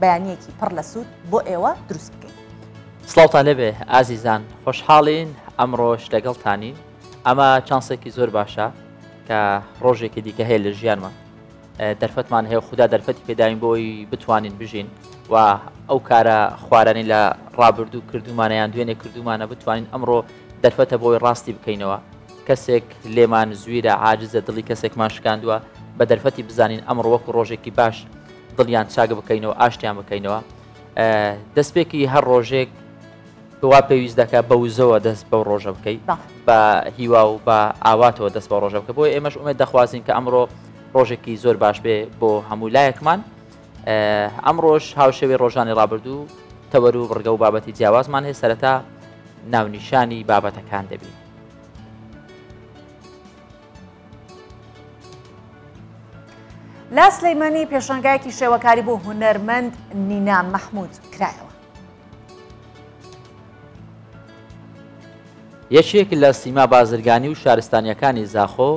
بەیانیەکی پڕ لە سوود بۆ ئێوە دروست بکەین. سڵاوتان لێبێ ئازیزان خۆشحاڵین ئەمڕۆش لەگەڵتانین ئەمە چانسێکی زۆر باشە کە ڕۆژێکی دیکە هەیە لە ژیانمان دەرفەتمان هەیە خوددا دەرفەتی پێداین بۆی بتوانین بژین و ئەو کارە خوارانی لە ڕابردوو کردومانیان دوێنێ کردومانە بتوانین ئەمڕۆ دەرفەتە بۆی ڕاستی بکەینەوە کەسێک لێمان زویرە عاجزە دڵی کەسێکمان شکاندووە بە دەرفەتی بزانین ئەمڕۆ وەکو ڕۆژێکی باش دڵیان چاک بکەینەوە ئاشتیان بکەینەوە دەستپێکی هەر ڕۆژێک وا پێویست دەکە بە وزەوە دەست بەو ڕۆژە بکەی بە هیوا و بە ئاواتەوە دەست بە ڕۆژە بکە بۆ ئێمەش ئومێ دەخوازین کە ئەمڕۆ ڕۆژێکی زۆر باش بێ بۆ هەموو لایەکمان ئەم ڕۆژ هاوشەوێ ڕۆژانی ڕابردوو تەوەر و بڕگە و بابەتی جیاوازمان هەیە سەرەتا ناونیشانی بابەتەکان دەبین لە سلەیمانی پێشانگایەکی شێوەکاری بۆ هونەرمەند نینا مەحمود کرایەوە. یەکێک لە سیما بازرگانی و شارستانیەکانی زاخۆ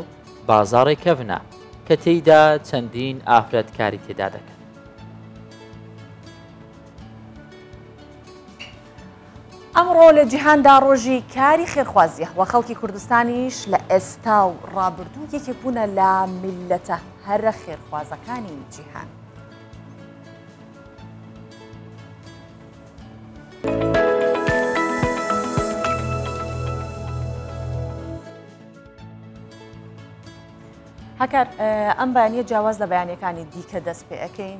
بازاڕی کەڤنە کە تێیدا چەندین ئافرەت کاری تێدا دەکەن. ئەمڕۆ لە جیهاندا ڕۆژی کاری خێرخوازییە و خەڵکی کوردستانیش لە ئێستا و ڕابردوو یەکێک بوونە لە میللەتە هەرە خێرخوازەکانی جیهان. هەکار ئەم بەیانە جیاواز لە بەیانەکانی دیکە دەست پێ ئەەکەین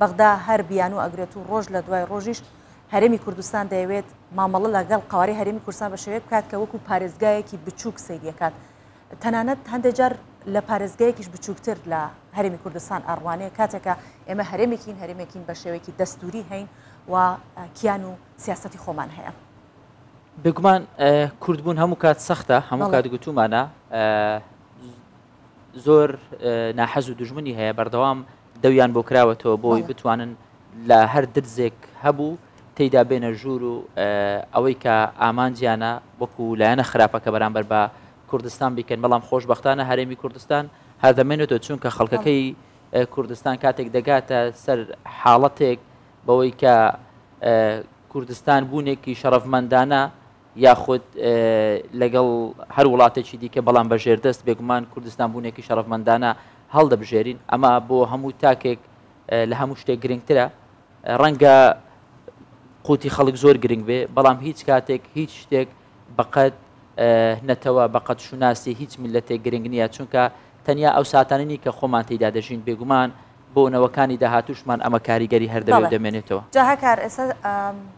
بەغدا هەر بیانوو ئەگرێت و ڕۆژ لە دوای ڕۆژیش هەرێمی کوردستان دەیەوێت مامەڵە لەگەڵ قەوارەی هەرێمی کوردستان بە شێوەیەک بکات کە وەکو پارێزگایەکی بچووک سەیریەکات تەنانەت هەندێک جار لە پارێزگایەکیش بچووکتر لە هەرێمی کوردستان ئەڕوانێ کاتێکە ئێمە هەرێمێکین هەرێمێکین بە شێوەیەکی دەستوری هەین و کیان و سیاستی خۆمان هەیە. بێگومان کوردبوون هەموو کات سەختە هەموو کات گوتومانە زۆر ناحەز و دژمنی هەیە بەردەوام دەویان بۆ کراوەتەوە بۆی بتوانن لە هەر درزێک هەبوو تێیدا بێنە ژوور و ئەوەی کە ئامانجیانە وەکو لایەنە خراپەکە بەرامبەر بە کوردستان بیکەن بەڵام خۆشببختانە هەرێمی کوردستان هەردەمێنێتەوە چونکە خەڵکەکەی کوردستان کاتێک دەگاتە سەر حاڵەتێک بەوەی کە کوردستان بوونێکی شەڕەفمەندانە یاخود لەگەڵ هەر وڵاتێکی دیکە بەڵام بە ژێردەست بێگومان کوردستان بوونێکی شەڕەفمەندانە هەڵدەبژێرین ئەمە بۆ هەموو تاکێک لە هەموو شتێک گرنگترە ڕەنگە قوتی خەڵک زۆر گرنگ بێ بەڵام هیچ کاتێک هیچ شتێک بەقەت نەتەوە بەقەت شوناسی هیچ میلەتێک گرنگ نییە چونکە تەنیا ئەو ساتاننی کە خۆمان تێدا دەژین بێگومان بۆ نەوەکانی داهاتوشمان ئەمە کاریگەری هەردەوە دەمێنێتەوە جاهکار ئێستا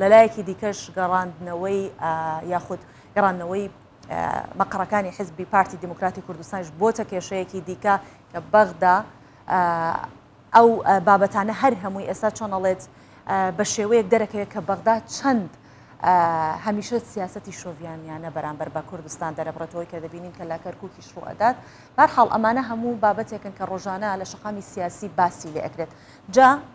لەلایەکی دیکەش گەڕاندنەوەی یاخود گەڕاندنەوەی مەقڕەکانی حزبی پارتی دیموکراتی کوردستانش بۆتە کێشەیەکی دیکە کە بەغدا ئەو بابەتانە هەر هەمووی ئێستا چۆنەڵێت بە شێوەیەک دەرەکەوێت کە بەغدا چەند هەمیشە سیاستی شۆڤانیانە بەرامبەر بە کوردستان دەرەبڕێتەوەی کە دەبینین کە لا کەرکوکی شڕئدات بارحاڵ ئەمانە هەموو بابەتێکن کە ڕۆژانە لە شقامی سیاسی باسی لێکرێت جا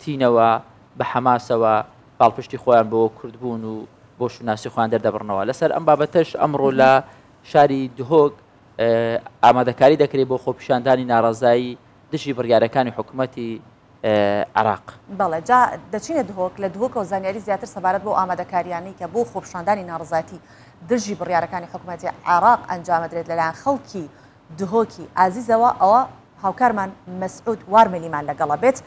تینەوە بە حەماسەوە پاڵپشتی خۆیان بۆ کوردبوون و بۆ شوناسی خۆیان دەردەبڕنەوە لەسەر ئەم بابەتەش ئەمڕۆ لە شاری دهۆک ئامادەکاری دەکرێت بۆ خۆپیشاندانی ناڕازایی دژی بڕیارەکانی حکوومەتی عراق بەڵێ جا دەچینە دهۆک لە دهۆکە و زانیاری زیاتر سەبارەت بۆ ئامادەکاریانی کە بۆ خۆپشاندانی ناڕزاتی دژی بڕیارەکانی حکوومەتی عراق ئەنجامدرێت لەلایەن خەڵکی دهۆکی ئازیزەوە ئەوە هاوکارمان مەسعود وار ملیمان لەگەڵە بێت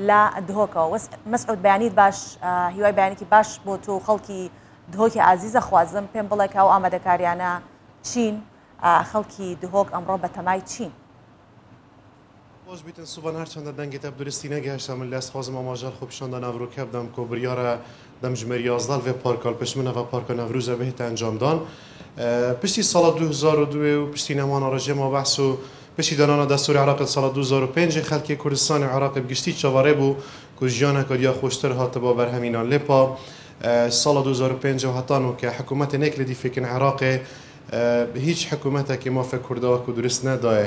لە دهۆکەوە وەس مەسعود بەیانیت باش هیوای بەیانێکی باش بۆ تۆ خەڵکی دهۆکی ئازیزە خوازم پێم بڵێ کاو ئامادەکاریانە چین خەڵکی دهۆک ئەمڕۆ بەتەمای چین خۆش بیتن سوبان هەر چەندە دەنگی تەپ درستی نەگەهشتە من لەس خۆزم ئاماژەر خۆ پیشان دە ناڤرو کە بدەم کۆ بریارە دەم ژمێر یازدە ڤێ پارکال پشت من ئەڤە پارکە نەڤروزە بهێتە ئەنجام دان پشتی ساڵە دوو هزار و دوێ و پشتی نەمانا ڕژێم و بەحس و پشتی دانانا دەستوری عراق لە ساڵە دوو هزار و پێنج خەلکی کوردستان و عراق بگشتی چاڤاڕێ بوو کو ژیانەکا دیا خۆشتر هاتبا بەر هەمینان لێ پا ساڵە دوو هزار و پێنج و هەتا نۆ کە حکومەتێ نێک لێ دی فێکن عراقێ هیچ حکومەتەکێ مافێ کورداک و درست نەداێ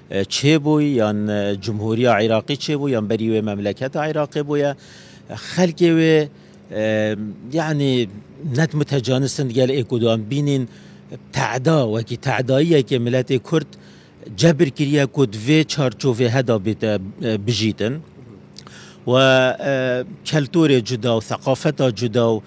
چێ بوی یان جمهوریا عیراقی چێ بوی یان بەری وێ مەملەکەت عیراقێ بویە خەلکێ وێ یعنی نەت متەجانسند گەل ئێک و دوان بینین تەعدا وەکی تەعداییە کێ ملەتێ کورد جەبر کریە کود وێ چارچۆڤێ هەدا بێتە بژیتن و کەلتورێ جودا و ثەقافەتا جودا و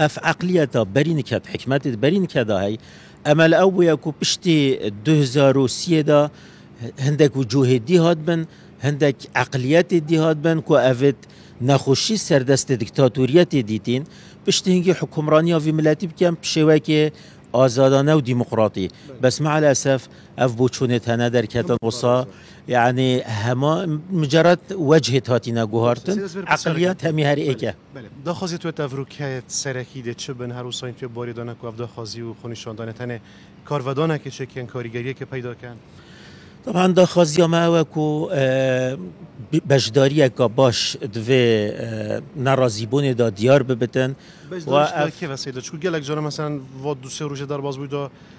ئەف عەقلیەتە بەرین کەت، حیکمەت بەرین کە دا هەی، ئەمە لە ئەو بویە کو پشتی دۊ هزار و سی دا هندێک وجوهێ دی هاتبن، هندێک عەقلیەتێ دی هاتبن کو ئەڤید نەخوشی سەردەست دکتاتۆریەتێ دیتین، پشتی هنگی حکومڕانیا ڤی ملەتی بکەن پ شێوەکێ ئازادانە و دیموقڕاتی، بەس مع الاسف ئەف بوچونێ تەنە دەرکەتن وسا یەعنی هەمان مجرد وجهێت هاتینە گوهارتن، عەقلیەت هەمی هەر ئێکە. بەلێ داخوازیە توێ تاڤروکیایەت سەرەکی دێ چ بن هەر وساین توێ بواری دانە کو ئەڤ داخوازی و خۆنیشاندانە تەنێ کار ڤە دانە کێ چێ کێن کاریگەریە کێ پەیدا کەن؟ تەبان داخوازیا مە ئەوە کو بەشداریە کا باش دڤێ نارازی بونێ دا دیار ببتن. بەشداریش دا کێ ڤە سەیدە چکو گەلەک جارە مەسەلەن ڤە دو سێ رووژێ دار باز بوی دا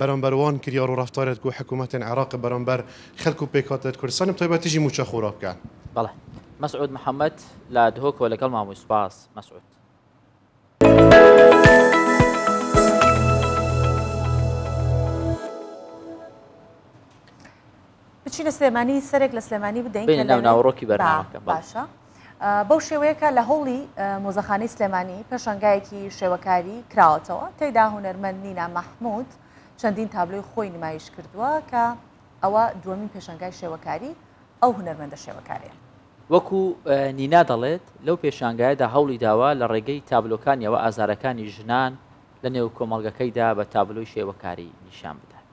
بەرامبەر وان کریار و رەفتارێت کو حکومەتێن عراق بەرامبەر خەلک و پێکهاتەێت کوردستان بە تایبەت تیژی موچە خورا بکەن. بەڵێ. مەسعود محەمەد لە دهۆکەوە لەگەڵ مان بووی سوپاس مەسعود. بچینە سلێمانی سەرێک لە سلێمانی بدەین کە لە ناوڕۆکی بەرنامەکە باشە بەو شێوەیەکە لە هەوڵی مۆزەخانی سلێمانی پێشنگایەکی شێوەکاری کراوەتەوە تێدا هوەرمەند نینا مەحمود چەندین تابلۆی خۆی نمایش کردووە کە ئەوە دووەمین پێشنگای شێوەکاری ئەو هوەرمەندە شێوەکارەیە وەکو نینا دەڵێت لەو پێشانگایدا هەوڵی داوا لە ڕێگەی تابلۆکانیەوە ئازارەکانی ژنان لە نێو کۆمەڵگەکەیدا بە تابلۆی شێوەکاری نیشان بدات.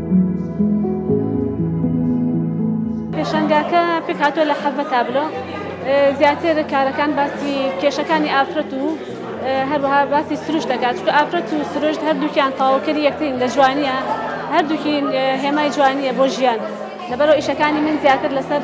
پێشەنگاکە پێکهاتوە لە حەڤە تابلۆ زیاتر کارەکان باسی کێشەکانی ئافرەت و هەروەها باسی سروش دەکات چکە ئافرەت و سروشت هەردووکیان تاوکەری یەکترین لە جوانیە هەردووکین هێمای جوانیە بۆ ژیان لەبەرەوە ئیشەکانی من زیاتر لەسەر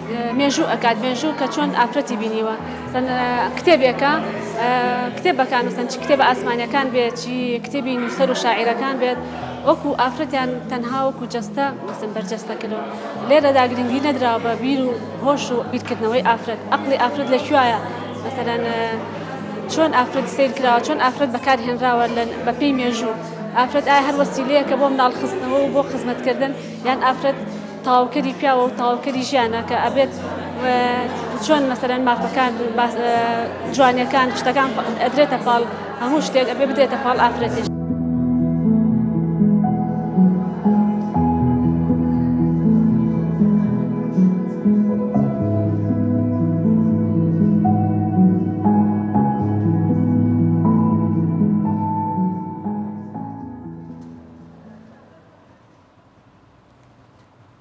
مێژوو ئەکات مێژوو کە چۆن ئافرەتی بینیوە سەن کتێبێکە کتێبەکان سەن چ کتێبە ئاسمانەکان بێت چی کتێبی نووسەر و شاعیرەکان بێت وەکو ئافرەتیان تەنها وەکو جەستە مەسن بەرجەستە کردن لێرەدا گرنگی نەدراوە بە بیر و هۆش و بیرکردنەوەی ئافرەت ئەقلی ئافرەت لە کوایە مەسەرەن چۆن ئافرەت سیر کراوە چۆن ئافرەت بەکار هێنراوە لە بەپی مێژوو ئافرەت ئایا هەر وەسیلەیە کە بۆ مناڵخستنەوە و بۆ خزمەتکردن یان ئافرەت تەواوکەری پیاوە و تەواوکەری ژیانە کە ئەبێت چۆن مەسەرەن مافەکان جوانیەکان شتەکان ئەدرێتە پاڵ هەموو شتێک ئەبێ بدێتە پاڵ ئافرەتێش.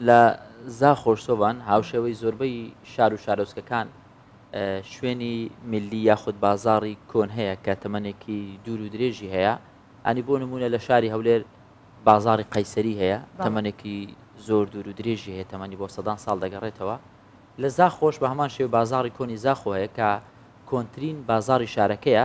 لە زاخۆ-سۆڤان، هاوشێوەی زۆربەی شار و شارۆچکەکان، شوێنی ملی یاخود بازاڕی کۆن هەیە کە تەمەنێکی دوور و درێژی هەیە، ئەنی بۆ نمونە لە شاری هەولێر بازاڕی قەیسەری هەیە تەمەنێکی زۆر دوور و درێژی هەیە تەمەنی بۆ سەدان ساڵ دەگەڕێتەوە لە زاخۆش بە هەمان شێو بازاڕی کۆنی زاخۆ هەیە کە کۆنترین بازاڕی شارەکەیە،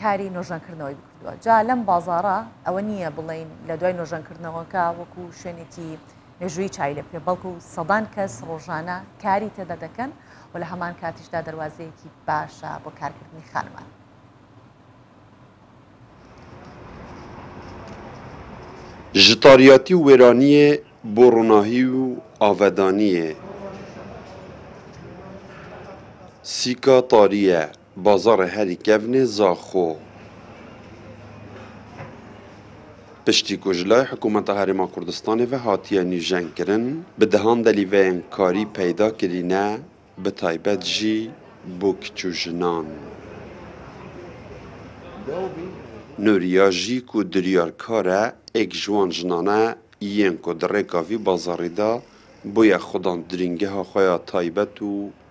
کاری نۆژەنکردنەوەی بکردووە جا لەم بازارە ئەوە نییە بڵین لە دوای نۆژەنکردنەوەکە وەکو شوێنێکی مێژووی چای لە پێ بەڵکو و سەدان کەس ڕۆژانە کاری تێدا دەکەن و لە هەمان کاتیشدا دەواازەیەکی باشە بۆ کارکردنی خانمان. Ji tariyatî û wêraniyê bo ronahî û avedaniyê sîka tarî ye. بازاڕێ هەلی کەڤنێ زاخۆ پشتی کو ژ لای حکوومەتا هەرێما کوردستانێ ڤە هاتیە نووژەن کرن، بە دەهان دەلی ڤەیەنکاری پەیدا کرینە بە تایبەت ژی بۆ کچ و ژنان. نوریا ژی کو دریار کارە ئێک ژ وان ژنانە یێن کو دە ڕێکا ڤی بازاڕیدا بویە خودان درینگەها خوەیا تایبەت و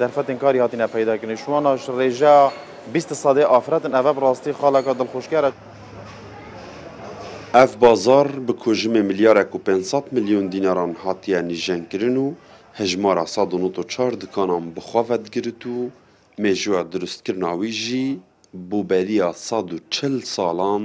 دەرفەتێن کاری هاتینە پەیدا کردنی شواناش ڕێژا بیست سەدەی ئافرەتن ئەڤە بڕاستی خاڵەکە دڵخوشکەرە. ئەڤ بازاڕ بە کۆژمێ ملیارێک و پێنج سەد ملیۆن دیناران هاتیە نیژەن کرن و هەژمارە سەد و نۆت و چار دکانان بە خۆ ڤەدگرت و مێژووە دروست کرنا وی ژی بووبەریە سەد و چل ساڵان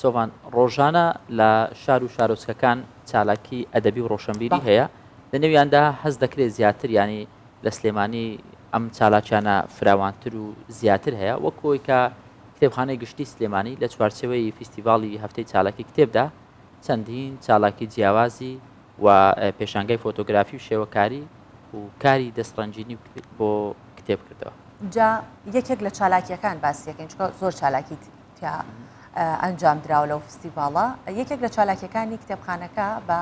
سۆڤان ڕۆژانە لە شار و شارۆچکەکان چالاکی ئەدەبی و ڕۆشنبیری هەیە لە نێویاندا هەز دەکرێت زیاتر ینی لە سلێمانی ئەم چالاکیانە فراوانتر و زیاتر هەیە وەکۆی کە کتێبخانەی گشتی سلێمانی لە چوارچەوەی فیستیڤاڵی هەفتەی چالاکی کتێبدا چەندین چالاکی جیاوازی و پێشانگای فۆتۆگرافی و شێوەکاری و کاری دەستڕەنجینی بۆ کتێب کردەوە. جا یەکێک لە چالاکیەکان باسیەکەین چکە زۆر چالاکی تیا ئەنجام دراوە لەو فستیڤاڵە یەکێک لە چالاکیەکانی کتێبخانەکە بە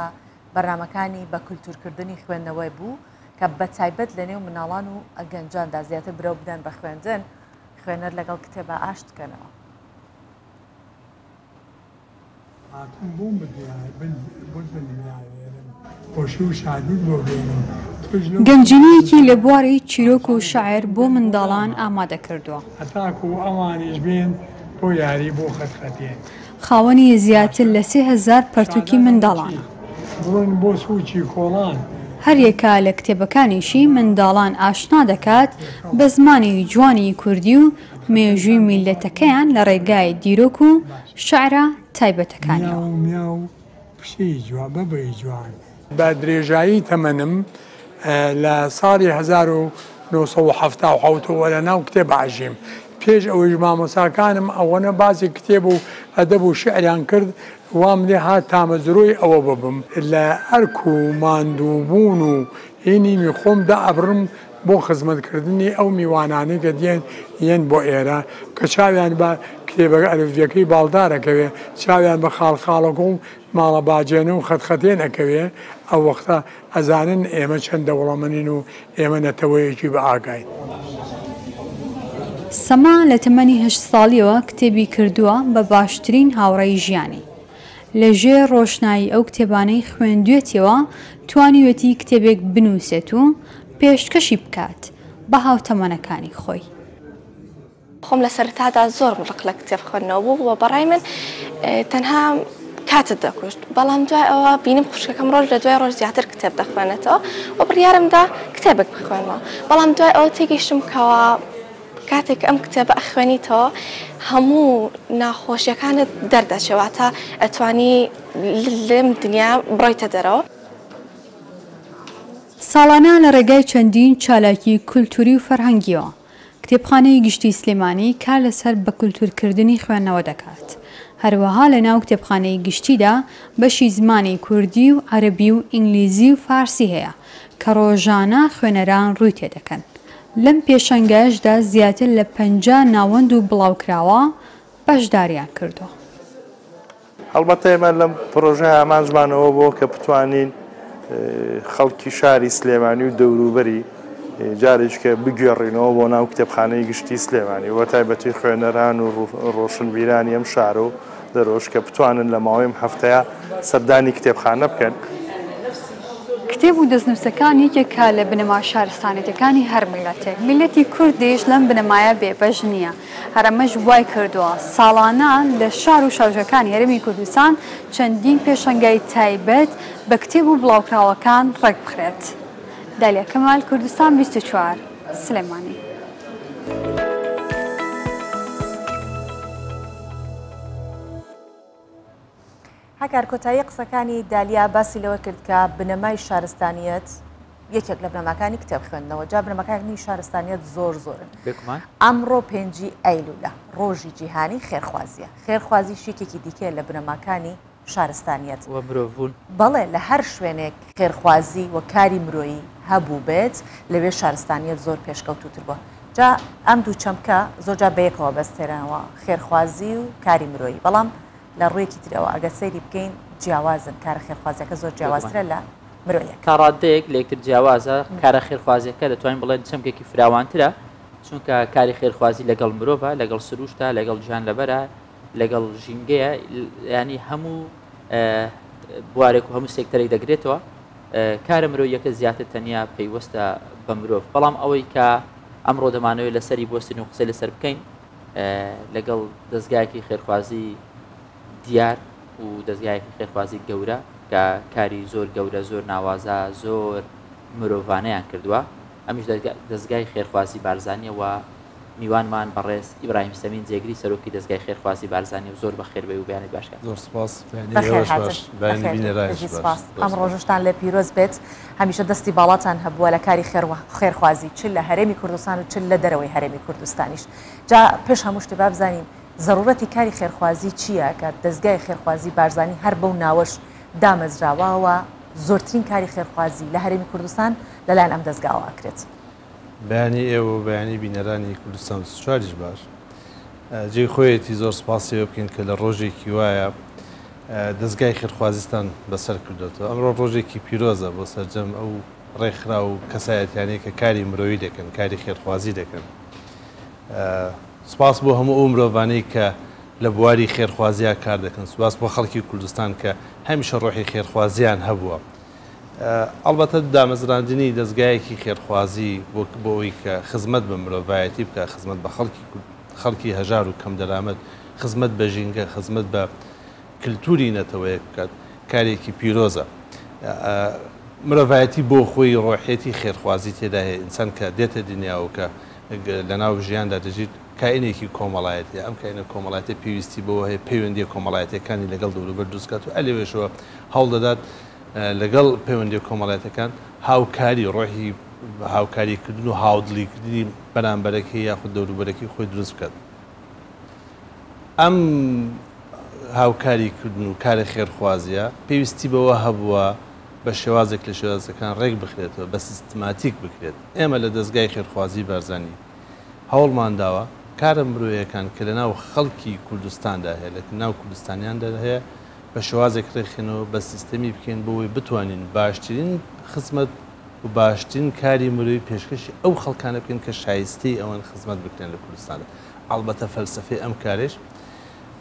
بەرنمەکانی بە کولتورکردنی خوێندنەوەی بوو کە بە تایبەت لە نێو مناڵان و ئەگەنجاندا زیاتر برەو بدەن بە خوێندن خوێنەر لەگەڵ کتێبە ئاشتکەنەوە. هاتووم بۆم بدوێ بن بۆت بنوێنێرم خۆشی و شادیت بۆ بێنم تۆش لەو گەنجینەیەکی لە بواری چیرۆک و شعر بۆ منداڵان ئامادە کردووە. هەتاکو ئەوانیش بێن بۆ یاری بۆ خەت خەتێن. خاوەنی زیاتر لە سێ هەزار پەرتووکی منداڵانە. بڕۆن بۆ سووچی کۆڵان. هەر یەکە لە کتێبەکانیشی منداڵان ئاشنا دەکات بە زمانی جوانی کوردی و، مێژووی میللەتەکەیان لە ڕێگای دیرۆک و شعرە تایبەتەکانیەوە. بە درێژایی تەمەنم لە ساڵی هەزار و نۆ سەد و حەفتا و حەوت وە لە ناو کتێب ئاژیم، پێش ئەوەیش مامۆستاکانم ئەوەنە باسی کتێب و ئەدەب و شعریان کرد وام لێ هات تامەزرۆی ئەوە ببم، لە ئەرک و ماندووبوون و ی نیمی خۆمدا ئەبڕم بۆ خزمەتکردنی ئەو میوانانەی کە دێن یەن بۆ ئێرە کە چاویان بە کتێبە ئەلفبیەکەی باڵدار ئەکەوێ، چاویان بە خاڵخاڵۆکە و ماڵە باجێنە و خەتخەتێن ئەکەوێ، ئەو وەختە ئەزانن ئێمە چەند دەوڵەمەنین و ئێمە نەتەوەیەکی بە ئاگاین. سەما لە تەمەنی هەشت ساڵیەوە کتێبی کردووە بە باشترین هاوڕێی ژیانی. لە ژێر ڕۆشنایی ئەو کتێبانەی خوێندوێتیەوە توانیوێتی کتێبێک بنووسێت و پێشکەشی بکات بە هاوتەمەنەکانی خۆی. خۆم لە سەرەتادا زۆرم ڕق لە کتێب خوێندنەوە بوو و بەڕای من تەنها کاتت دەکوشت، بەڵام دوای ئەوە بینیم خوشکەکەم ڕۆژ لە دوای ڕۆژ زیاتر کتێب دەخوێنێتەوە و بڕیارم دا کتێبێک بخوێنمەوە، بەڵام دوای ئەوە تێگەیشتم کەوا کاتێک ئەم کتێبە ئەخوێنیتەوە هەموو ناخۆشیەکانت دەردەچێ واتە ئەتوانی لەم دنیا بڕۆیتە دەرەوە. ساڵانە لە ڕێگای چەندین چالاکی کولتووری و فەرهەنگییەوە، کتێبخانەی گشتی سلێمانی کار لەسەر بەکولتوورکردنی خوێندنەوە دەکات، هەروەها لەناو کتێبخانەی گشتیدا بەشی زمانی کوردی و عەرەبی و ئینگلیزی و فارسی هەیە کە ڕۆژانە خوێنەران ڕووی تێدەکەن، لەم پێشەنگایشدا زیاتر لە پەنجا ناوەند و بڵاوکراوە بەشداریان کردووە. هەڵبەتە ئێمە لەم پرۆژەیە ئامانجمان ئەوە بووە کە بتوانین خەڵکی شاری سلێمانی و دەوروبەری جارێکیکە بگوێڕینەوە بۆ ناو کتێبخانەی گشتی سلێمانی و بەتایبەتی خوێنەران و ڕۆشنبیرانی ئەم شارە و دەرۆش کە بتوانن لە ماوەی ئەم هەفتەیە سەردانی کتێبخانە بکەن. کتێب و دەستنووسەکان یەکێکە لە بنەما شارستانیەتەکانی هەر میللەتێک، میللەتی کوردیش لەم بنەمایە بێبەش نییە، هەر ئەمەش وای کردووە ساڵانە لە شار و شاژێکانی هەرێمی کوردستان چەندین پێشەنگای تایبەت بە کتێب و بڵاوکراوەکان ڕێکبخرێت دالیا کمال کوردستان بیست و چوار. سلێمانی. هەکار کۆتایی قسەکانی دالیا باسی لەوە کرد کە بنەمای شارستانیت یەکێک لە بنەماکانی کتێب خوێندنەوە جا بنەمەکانی شارستانیت زۆر زۆرن ئەمڕۆ پێنجی ئەیلولە ڕۆژی جیهانی خێرخوازیە خێرخوازی شێکێکی دیکە لە بنەماکانی شارستانیەت و مرۆڤ بوون. بەڵێ لە هەر شوێنێک خێرخوازی و کاری مرۆیی هەبووبێت لەوێ شارستانیەت زۆر پێشکەوتووتر بووە جا ئەم دوو چەمکە زۆر جار بەیەکەوە بەستێرنەوە خێرخوازی و کاری مرۆیی بەڵام لە ڕوویەکی ترەوە ئەگەر سەیری بکەین جیاوازن کارە خێرخوازیەکە زۆر جیاوازترە لە مرۆیەکە. تا ڕاددەیەک لە یەکتر جیاوازە کارە خێرخوازیەکە دەتوانین بڵێن چەمکێکی فراوانترە چونکە کاری خێرخوازی لەگەڵ مرۆڤە لەگەڵ سرووشتە لەگەڵ گیانلەبەرە، لەگەڵ ژینگەیە ینی هەموو بوارێک و هەموو سێکتەرێک دەگرێتەوە کارە مرۆیەکە زیاتر تەنیا پەیوەستە بە مرۆڤ بەڵام ئەوەی کە ئەمڕۆ دەمانەوەی لەسەری بۆستین و قسەی لەسەر بکەین لەگەڵ دەستگایەکی خێرخوازی دیار و دەستگایەکی خێرخوازی گەورە کە کاری زۆر گەورە زۆر ناوازە زۆر مرۆڤانیان کردووە ئەمیش دەزگای خێرخوازی بارزانیە و میوانمان بەڕێز ئیبراهیم سەمین جێگری سەرۆکی دەزگای خێرخوازی بارزانیە و زۆر بەخێر بێی و بەیانت باش کات. زۆر سوپاس ئەم ڕۆژشتان لێ پیرۆز بێت هەمیشە دەستی باڵاتان هەبووە لە کاری خێرخوازی چ لە هەرێمی کوردستان و چ لە دەرەوەی هەرێمی کوردستانیش جا پێش هەموو شتێ با بزانین زەڕوڕەتی کاری خێرخوازی چییە کە دەزگای خێرخوازی بارزانی هەر بەو ناوەش دامەزراوە و زۆرترین کاری خێرخوازی لە هەرێمی کوردستان لەلایەن ئەم دەزگاوە ئەکرێت. بەیانی ئێوە و بەیانی بینەرانی کوردستان بیست و چوار یش باش جێی خۆیەتی زۆر سپاسی ئێوە بکەین کە لە ڕۆژێکی وایە دەزگای خێرخوازیستان بەسەر کردوێتەوە ئەمڕۆ ڕۆژێکی پیرۆزە بۆ سەرجەم ئەو ڕێکخرا و کەسایەتیانەی کە کاری مرۆیی دەکەن کاری خێرخوازی دەکەن سپاس بۆ هەموو ئەو مرۆڤانەی کە لە بواری خێرخوازیا کار دەکەن سپاس بۆ خەڵکی کوردستان کە هەمیشە ڕۆحی خێرخوازیان هەبووە ئەڵبەتە دامەزراندنی دەستگایەکی خێرخوازی بۆ ئەوی کە خزمەت بە مرۆڤایەتی بکە خزمەت بە خەڵکی خەڵکی هەژار و کەم دەرامەت خزمەت بە ژینگە خزمەت بە کللتوری نەتەوەیەک بکات کارێکی پیرۆزە مرۆڤایەتی بۆ خۆی ڕۆحێتی خێرخوازی تێدا هەیە ئینسان کە دێتە دنیاوکە لەناو ژیاندا دەژیت، کائینێکی کۆمەڵایەتیە، ئەم کائینە کۆمەڵایەتیە پێویستی بەوە هەیە پەیوەندیە کۆمەڵایەتیەکانی لەگەڵ دەوروبەر دروست بکات و ئەلەوێشەوە هەوڵدەدات لەگەڵ پەیوەندیە کۆمەڵایەتەکان هاوکاری، ڕۆحی هاوکاری کردن و هاودڵی کردنی بەرامبەرەکەی یاخود دەوروبەرەکەی خۆی دروست بکات. ئەم هاوکاری کردن و کارە خێرخوازیە پێویستی بەوە هەبووە، بە شێوازێک لە شێوازەکان ڕێک بخرێتەوە، بە سیستماتیک بکرێت. ئێمە لە دەزگای خێرخوازیی بارزانی هەوڵمان داوە کارە مرۆیەکان کە لەناو خەڵکی کوردستاندا هەیە، لە ناو کوردستانیاندا هەیە، بە شێوازێک ڕێک خێنەوە، بە سیستەمی بکەین بۆ ئەوەی بتوانین باشترین خزمەت و باشترین کاری مرۆیی پێشکەشی ئەو خەڵکانە بکەین کە شایستەی ئەوەن خزمەت بکرێن لە کوردستاندا. ئەڵبەتە فەلسەفەی ئەم کارەیش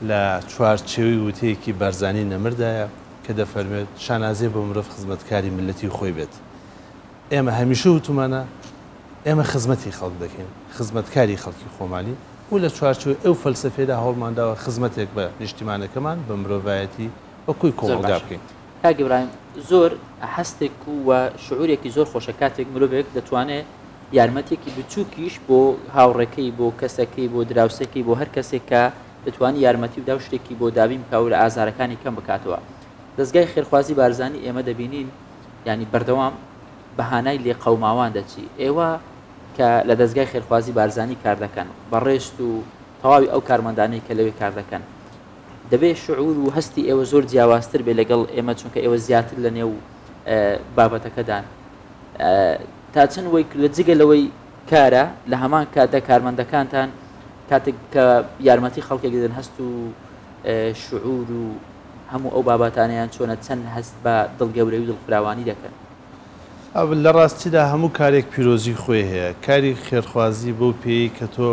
لە چوارچێوەی وتەیەکی بارزانیی نەمردایە، کە دەفەرموێت، شانازیە بۆ مرۆڤ خزمەتکاری میللەتی خۆی بێت. ئێمە هەمیشە وتومانە ئێمە خزمەتی خەڵک دەکەین، خزمەتکاری خەڵکی خۆمانی و لە چوارچێوەی ئەو فەلسەفەیەدا هەوڵمانداوە خزمەتێک بە نیشتیمانەکەمان، بە مرۆڤایەتی و کۆی کۆمەڵگا بکەین. کاک ئیبراهیم، زۆر هەستێک و شعورێکی زۆر خۆشە کاتێک مرۆڤێک دەتوانێت یارمەتیەکی بچوکیش بۆ هاوڕێکەی، بۆ کەسەکەی، بۆ دراوسێکەی، بۆ هەر کەسێک کە، دەتوانی یارمەتی بدا و شتێکی بۆ دابین بکا و لە ئازارەکانی کەم بکاتەوە دەستگای خێرخوازی بارزانی ئێمە دەبینین ینی بەردەوام بە هانای لێ قەوماوان دەچی ئێوە کە لە دەستگای خێرخوازی بارزانی کار دەکەن بەڕێست و تەواوی ئەو کارمەندانەی کە لەوێ کار دەکەن دەبێت شعور و هەستی ئێوە زۆر جیاوازتر بێ لەگەڵ ئێمە چونکە ئێوە زیاتر لە نێو بابەتەکەدان تا چەند وەی لە جگە لەوەی کارە لە هەمان کاتە کارمەندەکانتان کاتێک کە یارمەتی خەڵکێک دەدەن هەست و شعور و هەموو ئەو باباتانیان چۆنە چەند هەست بە دڵگەورەی و دڵفراوانی دەکەن. لە ڕاستیدا هەموو کارێک پیرۆزی خۆی هەیە، کاری خێرخوازی بەو پێیەی کە تۆ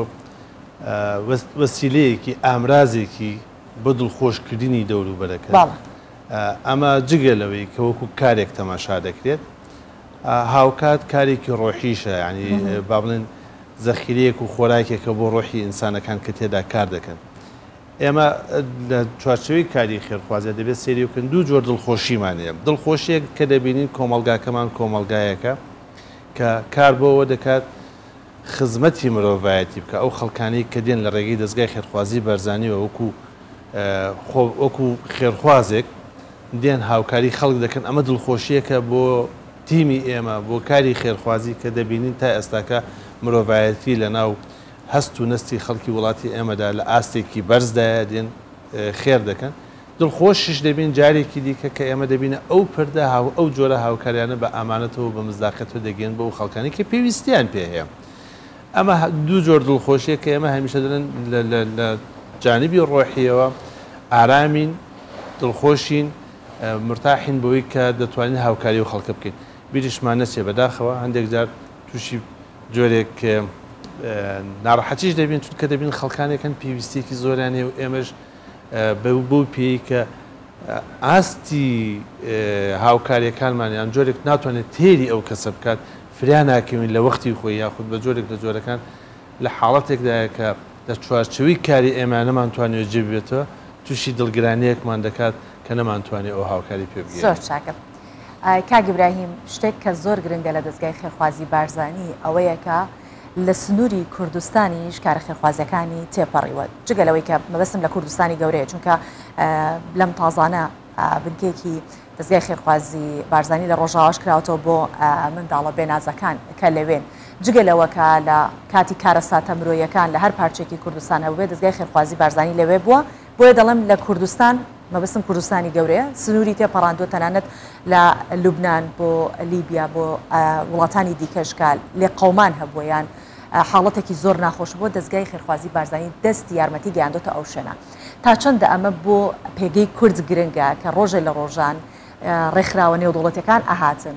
وەسیلەیەکی، ئامرازێکی بۆ دڵخۆشکردنی دەوروبەرەکەت، ئەمە جگە لەوەی کە وەکو کارێک تەماشا دەکرێت، هاوکات کارێکی ڕۆحیشە، یانی با بڵێن زەخیرەیەک و خۆراکێکە بۆ ڕۆحی ئینسانەکان کە تێدا کار دەکەن. ئێمە لە چوارچێوەی کاری خێرخوازیدا دەبێت سەیری بکەن، دوو جۆر دڵخۆشیمان هەیە، دڵخۆشییەک کە دەبینین کۆمەڵگاکەمان کۆمەڵگایەکە کە کار بۆ ئەوە دەکات، خزمەتی مرۆڤایەتی بکا ئەو خەڵکانەی کە دێن لە ڕێگەی دەزگای خێرخوازی بەرزانیەوە وەکو خۆ وەکو خێرخوازێک دێن هاوکاری خەڵک دەکەن ئەمە دڵخۆشیەکە بۆ تیمی ئێمە بۆ کاری خێرخوازی کە دەبینین تا ئێستاکە مرۆڤایەتی لە ناو هەست و نەستی خەڵکی وڵاتی ئێمەدا لە ئاستێکی بەرزدایە دێن خێر دەکەن دڵخۆشیش دەبین جارێکی دیکە کە ئێمە دەبینە ئەو پردە هاو ئەو جۆرە هاوکاریانە بە ئامانەتەوە و بە مزداقەتەوە دەگەین بۆ ئەو خەڵکانەی کە پێویستیان پێ هەیە. ئەمە دوو جۆر دڵخۆشیە کە ئێمە هەمیشە دەلێن لە لە لە جانبی ڕۆحیەوە ئارامین، دڵخۆشین، مرتاحین بەوەی کە دەتوانین هاوکاری ئەو خەڵکە بکەین. بیریشمان نەچێ بەداخەوە هەندێک جار تووشی جۆرێک ناڕەحەتیش دەبین چونکە دەبین خەڵکانێک هەن پێویستیەکی زۆریان هەیە و ئێمەش بەو پێیەی کە ئاستی هاوکارییەکانمان یان جۆرێک ناتوانێت تێری ئەو کەسە بکات فریا ناکەوین لە وەختی خۆی یاخود بە جۆرێک لە جۆرەکان لە حاڵەتێکدایە کە لە چوارچوی کاری ئێمە نەمانتوانێت جێ بێتەوە تووشی دڵگرانیەکمان دەکات کە نەمانتوانێت ئەو هاوکاری پێ بگەین زۆر چاکە کاک ئیبراهیم شتێک کە زۆر گرنگە لە دەزگای خێرخوازی بارزانی ئەوەیە کە لە سنووری کوردستانیش کارە خێرخوازییەکانی تێپەڕیوە جگە لەوەی کە مەبەستم لە کوردستانی گەورەیە چونکە لەم تازانە بنکێکی دەستگای خێرخوازی بارزانانی لە ڕۆژاواش کراوەتەوە بۆ منداڵە بێنازەکان کە لەوێن جگە لەوەکە لە کاتی کارەساتە مرۆیەکان لە هەر پارچێکی کوردستان هەبێ دەستگای خێرخوازی بارزانانی لەوێ بووە بۆیە دەڵێم لە کوردستان، مەبەستم کوردستانی گەورەیە، سنووری تێپەڕاندووە تەنانەت لە لوبنان بۆ لیبیا بۆ وڵاتانی دیکەش کە لێقەومان هەبووە یان حاڵەتێکی زۆر ناخۆش بووە دەستگای خێرخوازی بارزانی دەستی یارمەتی گەیاندۆتە ئەو شوێنە تا چەندە ئەمە بۆ پێگەی کورد گرنگە کە ڕۆژێ لە ڕۆژان ڕێکخراوە نێودەوڵەتەکان ئەهاتن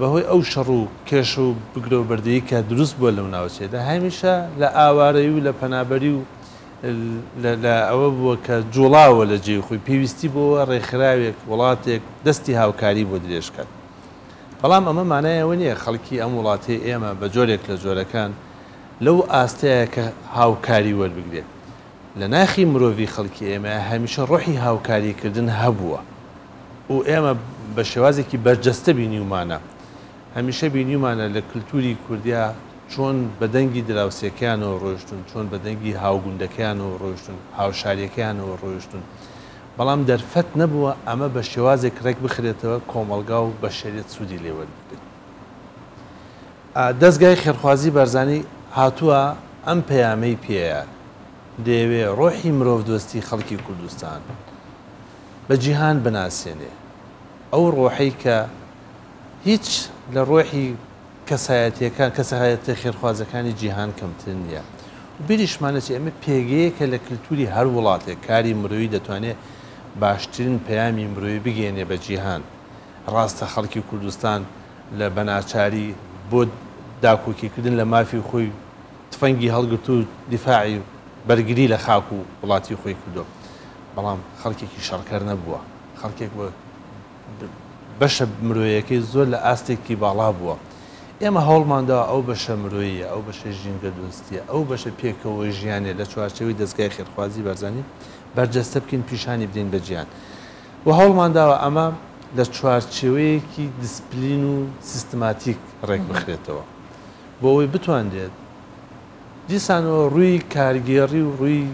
بەهۆی ئەو شەڕ و کێشە و بگرە و بەردەی کە دروست بووە لەو ناوچەیەدا هەمیشە لە ئاوارەی و لە پەنابەری و لە ئەوە بووە کە جوڵاوە لە جێی خۆی پێویستی بۆەوە ڕێکخراوێک وڵاتێک دەستی هاوکاری بۆ درێژکات بەڵام ئەمە مانای ئەوە نییە خەڵکی ئەم وڵاتی ئێمە بە جۆرێک لە جۆرەکان لەو ئاستەیە کە هاوکاری وەربگرێت لە ناخی مرۆڤی خەڵکی ئێمە هەمیشە ڕۆحی هاوکاری کردن هەبووە و ئێمە بە شێوازێکی بەرجەستە بینیومانە. هەمیشە بینیومانە لە کلتوری کوردیا چۆن بە دەنگی دراوسێکەیانەوە ڕۆیشتون، چۆن بە دەنگی هاوگوندەکەیانەوە ڕۆیشتون، هاوشاریەکەیانەوە ڕۆیشتون. بەڵام دەرفەت نەبووە ئەمە بە شێوازێک ڕێک بخرێتەوە کۆمەڵگا و بەشەریەت سودی لێ وەربگرێت. دەزگای خێرخوازی بارزانی هاتووە ئەم پەیامەی پێیە دەیەوێ ڕۆحی مرۆڤدۆستی خەڵکی کوردستان بە جیهان بناسێنێ ئەو ڕۆحەی کە هیچ لە ڕۆحی کەسایەتیەکان کەسایەتە خێرخوازەکانی جیهان کەمتر نییە و بیریشمانەچ ئێمە پێگەیەکە لە کللتوری هەر وڵاتێک کاری مرۆیی دەتوانێت باشترین پەیامی مرۆیی بگەێنێ بە جیهان ڕاستە خەڵکی کوردستان لە بەناچاری بۆ داکۆکیکردن لە مافی خۆی تفەنگی هەڵگرتوو و دیفاعی بەرگری لە خاک و وڵاتی خۆی کردووە، بەڵام خەڵکێکی شەڕکەر نەبووە، خەڵکێک بووە بەشە مرۆیەکەی زۆر لە ئاستێکی باڵا بووە. ئێمە هەوڵمانداوە ئەو بەشە مرۆییە، ئەو بەشە ژینگە دۆستییە، ئەو بەشە پێکەوە ژیانە لە چوارچێوەی دەزگای خێرخوازی بارزانی بەرجەستە بکەین، پیشانی بدەین بە جیهان. و هەوڵمانداوە ئەمە لە چوارچێوەیەکی دیسپلین و سیستماتیک ڕێکبخرێتەوە بۆ ئەوەی بتوانرێت دیسانەوە ڕووی کارگێڕی و ڕووی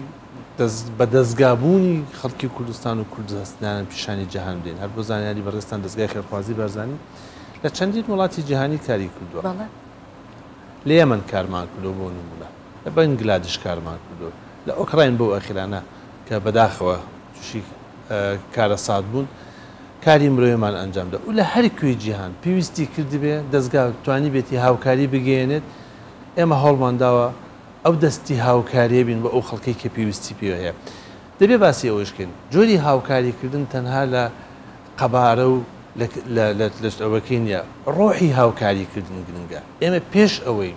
بە دەزگابوونی خەڵکی کوردستان و کورد هەستیانە پیشانی جیهان بدەین هەر بۆ زانیاری بەڕێستان دەزگای خێرخوازی بارزانی لە چەندین وڵاتی جیهانی کاری کردووە لە یەمەن کارمان کردو بۆ نمونە لە بەنگلادش کارمان کردو لە ئۆکراین بەو ئەخیرانە کە بەداخەوە توشی کارەسات بوون کاری مرۆیمان ئەنجامدا و لە هەر کوێی جیهان پێویستی کردبێ دەستگا توانی بێتی هاوکاری بگەیەنێت ئێمە هەوڵمان داوە ئەو دەستی هاوکاریە بین بە ئەو خەڵکی کە پێویستی پێ هەیە دەبێ باسی ئەوەشکەین جۆری هاوکاریکردن تەنها لە قەبارە و لەەوەکەی نیە ڕۆحی هاوکاریکردن گرنگە ئێمە پێش ئەوەی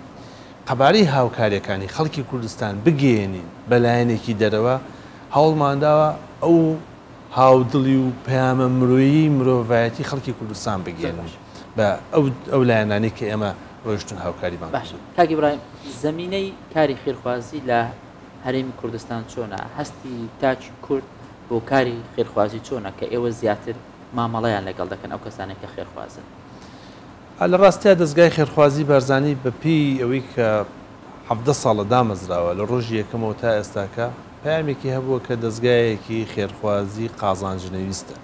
قەبارەی هاوکاریەکانی خەڵکی کوردستان بگەێنین بەلایەنێکی دەرەوە هەوڵمانداوە ئەو هاودڵی و پەیامە مرۆیی مرۆڤایەتی خەڵکی کوردستان بگەیەنین بە ئەو لایەنانەی کە ئێمە ڕۆیشتون هاوکاریمان باش کاک ئیبراهیم زەمینەی کاری خێرخوازی لە هەرێمی کوردستان چۆنە هەستی تاکی کورد بۆ کاری خێرخوازی چۆنە کە ئێوە زیاتر مامەڵەیان لەگەڵ دەکەن ئەو کەسانێک کە خێرخوازن لە ڕاستیا دەستگای خێرخوازی بارزانی بەپێی ئەوەی کە حەڤدە ساڵە دامەزراوە، لە ڕۆژی یەکەمەوە تا ئێستاکە پەیامێکی هەبووە کە دەزگایەکی خێرخوازی قازانجنەویستە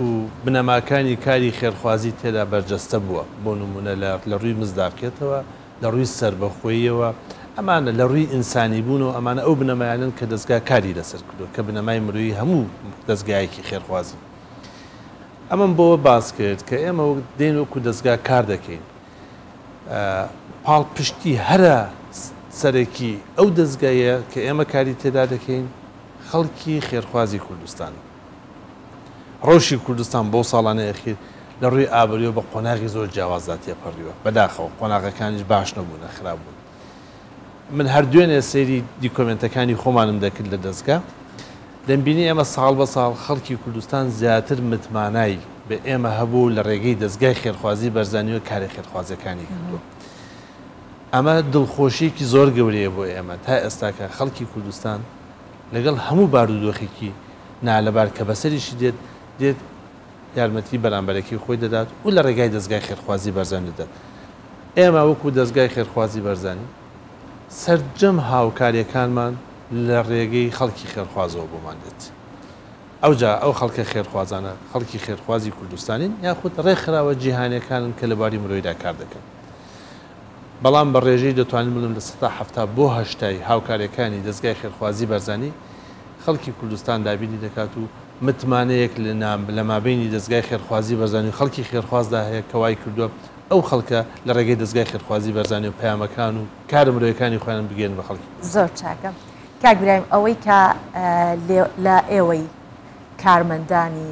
و بنەماکانی کاری خێرخوازی تێدا بەرجەستە بووە، بۆ نموونە لە لە ڕووی مزداقیەتەوە، لە ڕووی سەربەخۆییەوە، ئەمانە لە ڕووی ئینسانیبوونەوە ئەمانە ئەو بنەمایانەن کە دەزگا کاری لەسەر کردووە کە بنەمای مرۆیی هەموو دەزگایەکی خێرخوازین. ئەمەم بۆوە باس کرد کە ئێمە دێین وەکو دەزگا کار دەکەین، پاڵپشتی هەرە سەرەکی ئەو دەزگایە کە ئێمە کاری تێدا دەکەین خەڵکی خێرخوازی کوردستان ڕەوشی کوردستان بۆ ساڵانە ئەخیر لە ڕووی ئابووریەوە بە قۆناغی زۆر جیاوازدا تێپەڕیوە بەداخەوە قۆناغەکانیش باش نەبوونە خراپ بوون من هەر دوێنێ سەیری دیکۆمێنتەکانی خۆمانم دەکرد لە دەزگا، دەمبینی ئێمە ساڵ بە ساڵ خەڵکی کوردستان زیاتر متمانای بە ئێمە هەبووە و لە رێگەی دەزگای خێرخوازی بەرزانییەوە کارە خێرخوازییەکانی کردووە. ئەمە دڵخۆشییەکی زۆر گەورەیە بۆ ئێمە تا ئێستاکە خەڵکی کوردستان لەگەڵ هەموو بارودۆخێکی نالەبار کە بەسەریشی دێت، دێت یارمەتی بەرامبەرەکی خۆی دەدات و لە ڕێگای دەزگای خێرخوازی بەرزانی دەدات. ئێمە وەکو دەزگای خێرخوازی بەرزانی سەرجەم هاوکاریەکانمان لە ڕێگەی خەڵکی خێرخوازەوە بۆمان دێت. ئەوجا ئەو خەڵکە خێرخوازانە خەڵکی خێرخوازی کوردستانین یاخود ڕێکخراوە جیهانیەکانن کە لە بواری مرۆیدا کار دەکەن. بەڵام بە ڕێژەی دەتوانم بڵێم لە سەتا حەفتا بۆ هەشتای هاوکارەکانی دەزگای خێرخوازی بارزانی خەڵکی کوردستان دابینی دەکات و متمانەیەک لە مابەینی دەزگای خێرخوازی بەرزانی و خەڵکی خێرخوازدا هەیە کە وای کردووە ئەو خەڵکە لە ڕێگەی دەزگای خێرخوازی بەرزانی و پەیامەکان و کارە مرۆیەکانی خۆیان بگەینن بە خەڵکی کوردستان. زۆر چاکە کاک برایم ئەوەی کە لە ئێوەی کارمەندانی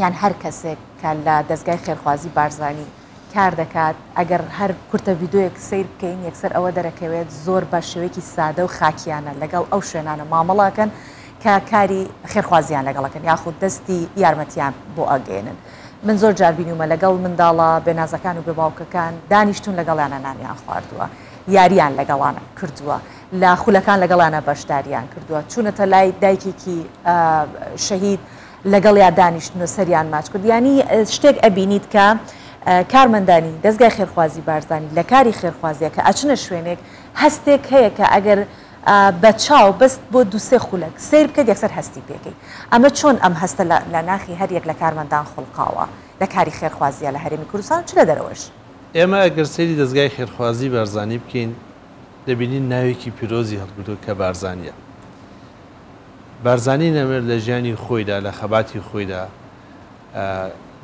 یان هەر کەسێک کە لە دەزگای خێرخوازی بارزانی کار دەکات ئەگەر هەر کورتە ڤیدۆیەک سەیر بکەین یەکسەر ئەوە دەرەکەوێت زۆر بە شێوەیەکی سادە و خاکیانە لەگەڵ ئەو شوێنانە مامەڵەکەن کە کاری خێرخوازیان لەگەڵەکەن یاخود دەستی یارمەتیان بۆ ئەگەێنن من زۆر جار بینومە لەگەڵ منداڵە بێنازەکان و بێ باوکەکان دانیشتون لەگەڵیانە نانیان خواردووە یاریان لەگەڵان کردووە لە خولەکان لەگەڵیانە بەشداریان کردووە چونەتە لای دایکێکی شەهید لەگەڵیا دانیشتن و سەریان ماچ کرد یانی شتێک ئەبینیت کە کارمەندانی دەستگای خێرخوازی بارزانی لە کاری خێرخوازیە کە ئەچنە شوێنێک هەستێک هەیە کە ئەگەر بە چاو بەست بۆ دوسێ خولەک سیر بکەیت یەکسەر هەستی پێکەی ئەمە چۆن ئەم هەستە لە ناخی هەر یەک لە کارمەندان خوڵقاوە لە کاری خێرخوازیە لە هەرێمی کوردستان چ لە دەرەوەش. ئێمە ئەگەر سەیری دەستگای خێرخوازی بارزانی بکەین دەبینین ناوێکی پیرۆزی هەڵگرتوە کە بارزانیە بارزانی نەمر لە ژیانی خۆیدا، لە خەباتی خۆیدا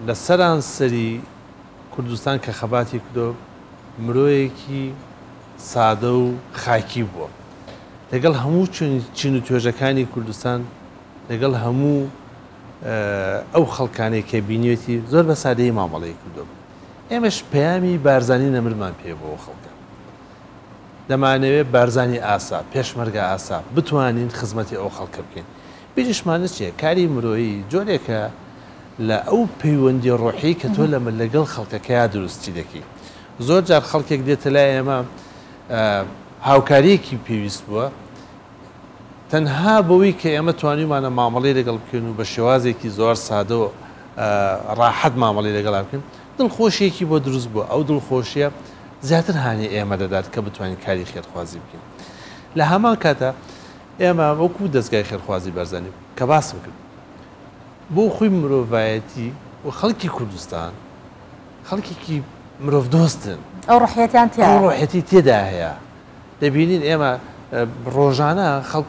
لە سەرانسەری کوردستان کە خەباتی کردوە، مرۆیەکی سادە و خاکی بووە. لەگەڵ هەموو چین و توێژەکانی کوردستان، لەگەڵ هەموو ئەو خەڵکانەی کە بینیوێتی، زۆر بە سادەیی مامەڵەی کردوە. ئێمەش پەیامی بارزانی نەمرمان پێ بۆ خەڵکە. دەمانەوێت بارزانی ئاسا، پێشمەرگە ئاسا، بتوانین خزمەتی ئەو خەڵکە بکەین. بیریشمان نەچێت کاری مرۆیی جۆرێکە لە ئەو پەیوەندیە ڕۆحیەی کە تۆ لەمە لەگەڵ خەڵکەکەیا دروستی دەکەی. زۆر جار خەڵکێک دێتە لای ئێمە هاوکاریەکی پێویست بووە، تەنها بەوەی کە ئێمە توانیومانە مامەڵەی لەگەڵ بکەین و بە شێوازێکی زۆر سادە و ڕاحەت مامەڵەی لەگەڵا بکەین، دڵخۆشییەکی بۆ دروست بووە، ئەو دڵخۆشییە زیاتر هانی ئێمە دەدات کە بتوانین کاری خێرخوازی بکەین. لە هەمان کاتدا ئێمە وەکوو دەزگای خێرخوازی بارزانی کە باسم کرد بۆ خۆی مرۆڤایەتی و خەڵکی کوردستان خەڵکێکی مرۆڤ دۆستن. ئەو ڕۆحیەتیان تیایە. ئەو ڕۆحیەتی تێدا هەیە. دەبینین ئێمە ڕۆژانە خەڵک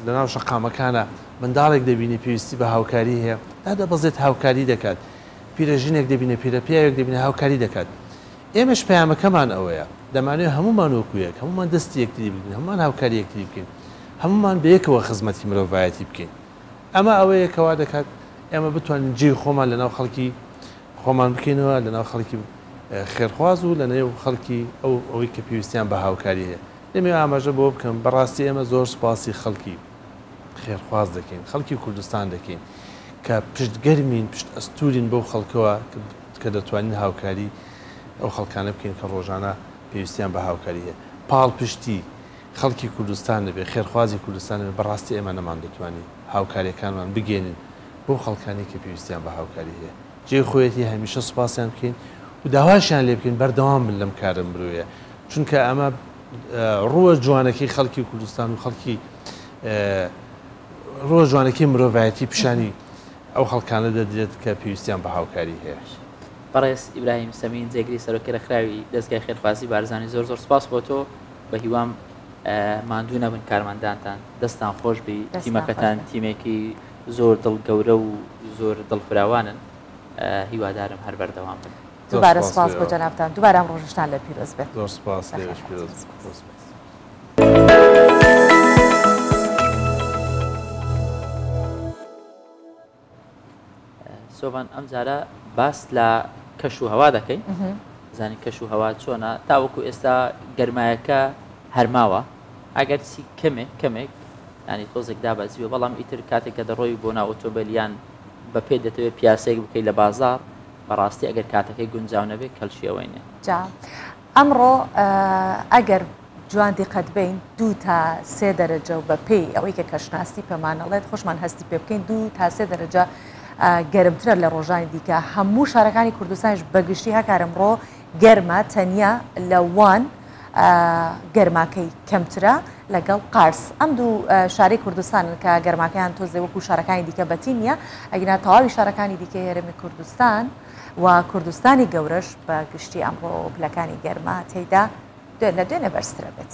لەناو شەقامەکانە منداڵێک دەبینی پێویستی بە هاوکاری هەیە دادەبەزێت هاوکاری دەکات. پیرەژنێک دەبینێ، پیرەپیاوێک دەبینێ هاوکاری دەکات. ئێمەش پەیامەکەمان ئەوەیە. دەمانەوێت هەموومان وەکو یەک، هەموومان دەستی یەکتری بگرین، هەموومان هاوکاری یەکتری بکەین، هەموومان بەیەکەوە خزمەتی مرۆڤایەتی بکەین. ئەمە ئەوەیە کە وا دەکات ئێمە بتوانین جێی خۆمان لەناو خەڵکی خۆمان بکەینەوە، لەناو خەڵکی خێرخواز و لەنێو خەڵکی ئەو ئەوەی کە پێویستیان بە هاوکاری هەیە. دەمەوێت ئاماژە بەوە بکەم، بەڕاستی ئێمە زۆر سوپاسی خەڵکی. خێرخواز دەکەین، خەڵکی کوردستان دەکەین کە پشت گەرمین، پشت ئەستوورین بەو خەڵکەوە کە دەتوانین هاوکاری ئەو خەڵکانە بکەین کە ڕۆژانە پێویستیان بە هاوکاری هەیە. پاڵپشتی خەڵکی کوردستان نەبێ، خێرخوازی کوردستان نەبێ، بە ڕاستی ئێمە نەماندەتوانی هاوکارییەکانمان بگەیەنین بەو خەڵکانەی کە پێویستیان بە هاوکاری هەیە. جێی خۆیەتی هەمیشە سوپاسیان بکەین و داواشیان لێ بکەین بەردەوام بن لەم کارە مرۆیە، چونکە ئەمە ڕووە جوانەکەی خەڵکی کوردستان و خەڵکی ڕۆژ جوانەکەی مرۆڤایەتی پیشانی ئەو خەڵکانە دەدرێت کە پێویستیان بە هاوکاری هەیە بەڕێز ئیبراهیم سەمین جێگری سەرۆکی ڕێکخراوی دەستگای خێرخوازی بارزانانی زۆر زۆر سپاس بۆ تۆ بە هیوام ماندوو نەبن کارمەندانتان دەستان خۆش بی تیمەکەتان تیمێکی زۆر دڵ گەورە و زۆر دڵفراوانن هیوادارم هەر بەردەوام بن دووبارە سوپاس بۆ جەنابتان دووبارە ئەم ڕۆژشتان لێ پیرۆز بێت زۆر سوپاس لێش پیرۆز سۆڤان ئەم جارە باس لە کەش و هەوا دەکەین زانی کەش و هەوا چۆنا تاوەکو ئێستا گەرمایەکە هەرماوە ئەگەر چی کەمێک کەمێک ینی تۆزێک دابەزیوە بەڵام ئیتر کاتێک کە دەڕۆی بۆ ناو ئۆتۆبیلیان بە پێ دەتەوێت پیاسێک بکەیت لە بازار بەڕاستی ئەگەر کاتەکەی گونجاو نەبێت کەلکی ئەوەی نیە. جا ئەمڕۆ ئەگەر جوان دیقەت بەین دوو تا سێ دەرەجە و بە پێی ئەوەی کە کەشناسی پێمانەڵێت خۆشمان هەستی پێ بکەین دوو تا سێ دەرەجە گەرمترە لە ڕۆژانی دیکە هەموو شارەکانی کوردستانش بەگشتی هەکارم ڕۆ گەرمە تەنیا لە وان گەرماکەی کەمترە لەگەڵ قارس ئەم دوو شارەی کوردستانن کە گەرماکەیان تۆزێ وەکو شارەکانی دیکە بەتی نیە ئەگنا تەواوی شارەکانی دیکە هێرمی کوردستان و کوردستانی گەورەش بە گشتی ئەمڕۆ پلەکانی گەرما تێدا دوێن لە دوێنێ بەرزترە بێت.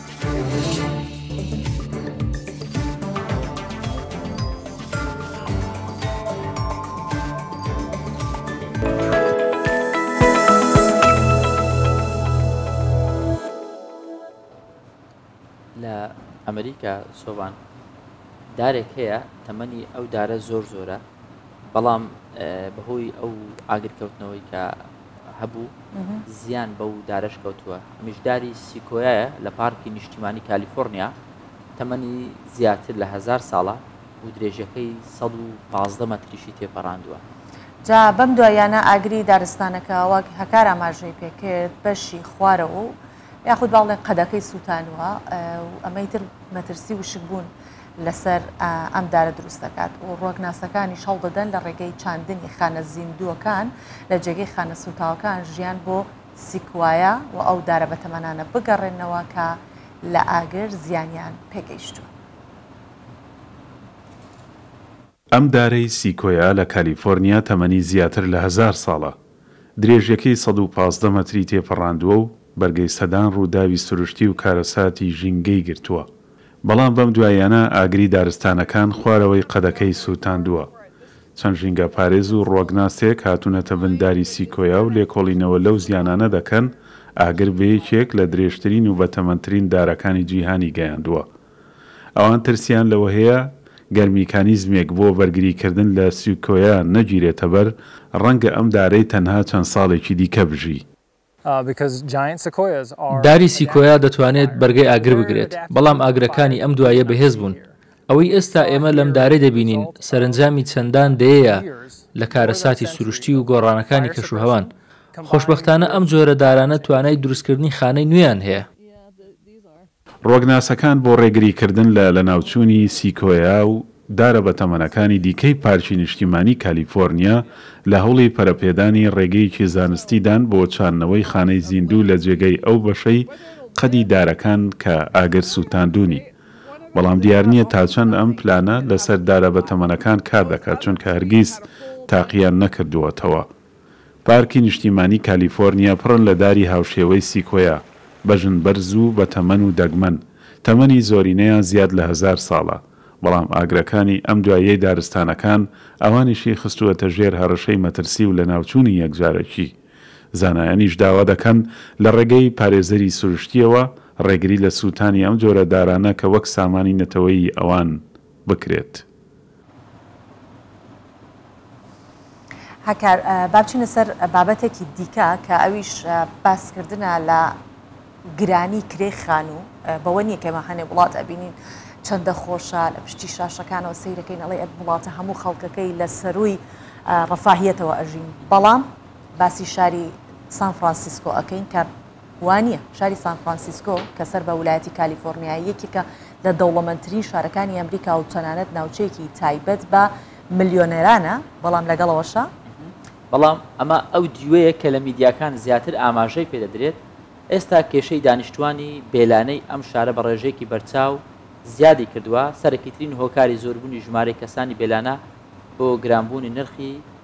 لە ئەمریکا سۆبان دارێک هەیە تەمەنی ئەو دارە زۆر زۆرە بەڵام بەهۆی ئەو ئاگرکەوتنەوەی کە هەبوو، زیان بەو دارەش کەوتووە، ئەمیش داری سیکۆیایە لە پارکی نیشتیمانی کالیفۆرنیا، تەمەنی زیاتر لە هەزار ساڵە و درێژەکەی سەد و پازدە مەتریشی تێپەڕاندووە. جا بەم دواییانە ئاگری دارستانەکە ئەوە هەکار ئاماژەی پێکرد، بەشی خوارەوە و یاخود با بڵێین قەدەکەی سووتانووە و ئەمەی تر مەترسی وشکبوون لەسەر ئەم دارە دروست دەکات و ڕوەکناسەکانیش هەڵدەدەن لە ڕێگەی چاندنی خانە زیندووەکان لە جێگەی خانە سووتاوەکان ژیان بۆ سیکوایە و ئەو دارە بەتەمەنانە بگەڕێننەوە کە لە ئاگر زیانیان پێگەیشتووە. ئەم دارەی سیکۆیا لە کالیفۆرنیا تەمەنی زیاتر لە هەزار ساڵە، درێژیەکەی سەد و پازدە مەتری تێپەڕاندووە و بەرگەی سەدان ڕووداوی سروشتی و کارەساتی ژینگەی گرتووە، بەڵام بەم دواییانە ئاگری دارستانەکان خوارەوەی قەدەکەی سووتاندووە. چەند ژینگەپارێز و ڕوەکناسێک هاتوونەتە بن داری سیکۆیا و لێکۆڵینەوە لەو زیانانە دەکەن ئاگر بە یەکێک لە درێژترین و بەتەمەنترین دارەکانی جیهانی گەیاندووە ئەوان ترسیان لەوەهەیە گەر میکانیزمێک بۆ بەرگریکردن لە سیکۆیا نەگیرێتەبەر، ڕەنگە ئەم دارەی تەنها چەند ساڵێکی دیکە بژی. داری سیکۆیا دەتوانێت بەرگەی ئاگر بگرێت، بەڵام ئاگرەکانی ئەم دواییە بەهێزبوون. ئەوەی ئێستا ئێمە لەم دارەی دەبینین سەرەنجامی چەندان دەیەیە لە کارەساتی سروشتی و گۆڕانەکانی کەشوهەوان. خۆشبەختانە ئەم جۆرە دارانە توانای دروستکردنی خانەی نوێیان هەیە. ڕوەگناسەکان بۆ ڕێگریکردن لە لەناوچوونی سیکۆیا و دارە بەتەمەنەکانی دیکەی پارکی نیشتیمانی کالیفۆرنیا لە هەوڵی پەرەپێدانی ڕێگەیەکی زانستی دان بۆ چاندنەوەی خانەی زیندوو لە جێگەی ئەو بەشەی قەدی دارەکان کە ئاگر سووتاندوونی بەڵام دیار نییە تا چەند ئەم پلانە لەسەر دارە بەتەمەنەکان کار دەکات چونکە هەرگیز تاقییان نەکردووەتەوە. پارکی نیشتیمانی کالیفۆرنیا پڕن لە داری هاوشێوەی سیکۆیا، بەژن بەرز و بەتەمەن و دەگمەن، تەمەنی زۆرینەیان زیاد لە هەزار ساڵە، بەڵام ئاگرەکانی ئەم دواییەی دارستانەکان ئەوانیشی خستووەتە ژێر هەڕەشەی مەترسی و لەناوچوونی یەکجارەکی، زانایانیش داوا دەکەن لە ڕێگەی پارێزەری سروشتییەوە ڕێگری لە سووتانی ئەم جۆرە دارانە کە وەک سامانی نەتەوەیی ئەوان بکرێت. هاکار، با بچینە سەر بابەتێکی دیکە کە ئەویش باسکردنە لە گرانی کرێی خانوو بەوە نییە کەمە هەنێ وڵات ئەبینین چەندە خۆشە لە پشتی شاشەکانەوە سیرەکەین ئەڵێ ئەب وڵاتە هەموو خەڵکەکەی لە سەرووی ڕفاهیەتەوە ئەژین بەڵام باسی شاری سان فرانسیسکۆ ئەەکەین کە وانییە، شاری سان فرانسیسکۆ کە سەر بە ولایەتی کالیفۆرنیایە، یەکێکە لە دەوڵەمەندترین شارەکانی ئەمریکا و تەنانەت ناوچەیەکی تایبەت بە ملیۆنێرانە، بەڵام لەگەڵ ئەوەشا، بەڵام ئەمە ئەو دیوەیە کە لە میدیاکان زیاتر ئاماژەی پێ دەدرێت، ئێستا کێشەی دانیشتووانی بێلانەی ئەم شارە بە ڕێژەیەکی بەرچاو زیادی کردووە، سەرەکیترین هۆکاری زۆربوونی ژمارەی کەسانی بێلانە بۆ گرانبوونی نرخی